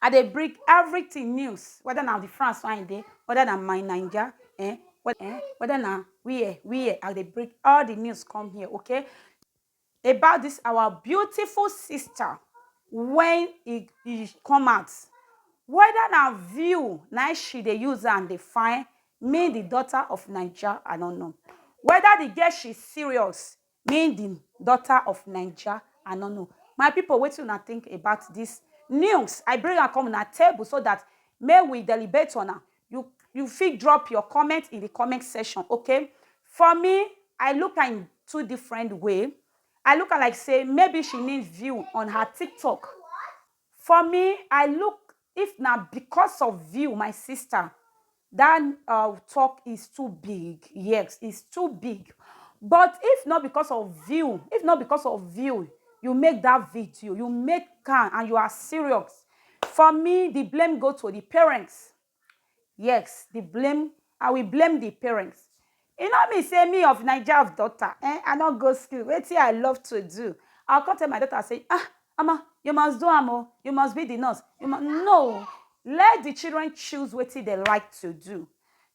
I dey bring everything news whether na the France wey I dey, whether na my Naija eh, eh, whether na where, where, I dey bring all the news come here, okay? About dis our beautiful sister wey e e come out, whether na view na im she dey use am dey find me the daughter of Naija, I no know. Whether the girl she serious, Me the daughter of naija I no know my people wetin una think about this news I bring am come una table so that make we delibate on am you you fit drop your comment in the comment section ok for me I look am in two different way I look am like say maybe she need view on her tiktok For me I look if na because of view my sister that ur talk is too big yes is too big but if not because of view if not because of view you make that video you make am and you are serious for me the blame go to the parents Yes, the blame, I will blame the parents. E no mean say me of Naija of daughter, eh, I no go school, wetin I love to do. I come tell my daughter say, ah, Omo, you must do am o, you must be the nurse. You must... No, let the children choose wetin they like to do.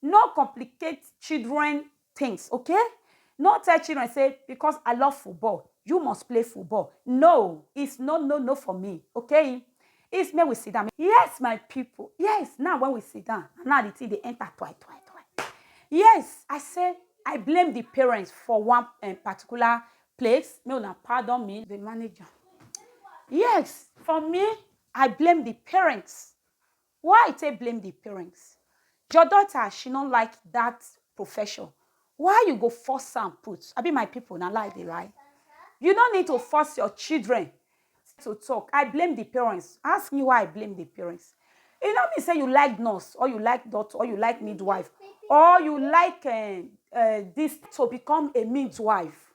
No complicate children things okay no tell children say because I love football you must play football no it's no no no for me okay it's me we sit down yes my people yes now when we sit down now the thing they enter twi twi twi yes I say I blame the parents for one um, particular place no na pardon me the manager yes for me I blame the parents Why i take blame the parents? Your daughter she no like that profession why you go force am put abi my people na lie dey lie you no need to force your children to talk i blame the parents ask me why i blame the parents e no mean say you like nurse or you like doctor or you like midwife or you like uh, uh, this to become a midwife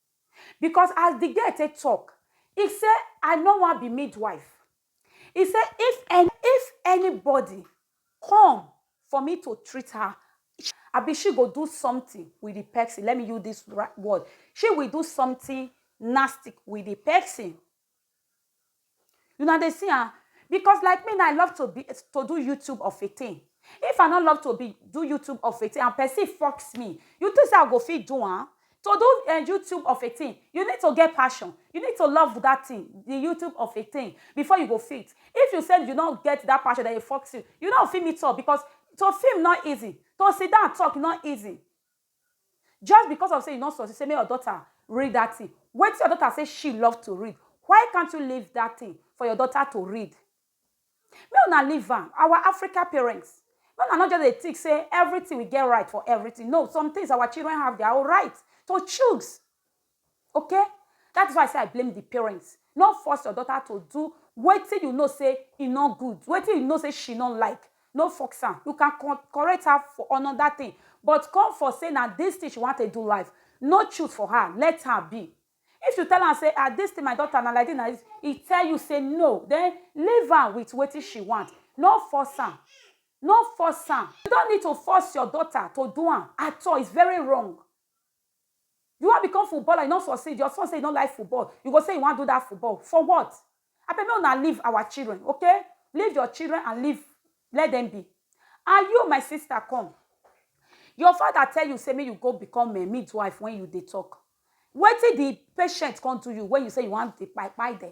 because as di girl take tok, e say I no wan be midwife. E say if if anybody come for me to treat her, abi she go do something wit di pesin, let me use dis word, she will do something nasty wit di pesin. Una dey see am? Because like me now, I love to be to do YouTube of a thing. If I no love to be do YouTube of a thing and person force me, you think say I go fit do am? To do um YouTube of a thing, you need to get passion, you need to love that thing, the YouTube of a thing before you go fit. If you say you no get that passion, then you force you, you no go fit meet up because to film no easy, to sit down talk no easy. Just because of say you no succeed say make your daughter read that thing. Wetin your daughter say she love to read, why can't you leave that thing for your daughter to read? Make una leave am. Our Africa parents, make una no just dey think say everything we get right for everything. No, some things our children have their own right to choose. Ok that is why I say I blame the parents no force your daughter to do wetin you know say e no good wetin you know say she no like no force am you can correct her for another thing but come for say na this thing she wan take do life no choose for her let her be if you tell am say ah this thing my daughter na like this na this e tell you say no then leave am with wetin she want no force am no force am you don't need to force your daughter to do am at all it's very wrong You wan become footballer you no succeed, your son say you no like football you go say you wan do that football for what? Abeg make una leave our children ok, leave your children and leave let them be and you my sister come your father tell you say make you go become um midwife when you dey talk wetin the patient come do you when you say you wan dey kpai kpai dem?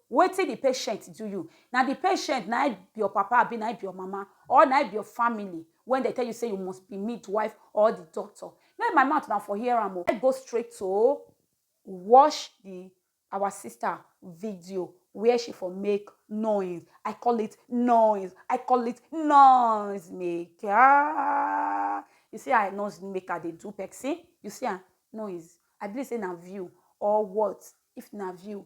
Wetin the patient do you? Na the patient na im be your papa abi na im be your mama or na im be your family when dem tell you say you must be midwife or the doctor? May my mouth una for hear am o. Let's go straight to watch the our sister video where she for make noise. I call it noise. I call it noise maker. You see how noise maker dey do person? You see am? Noise. I believe say na view or what? If na view,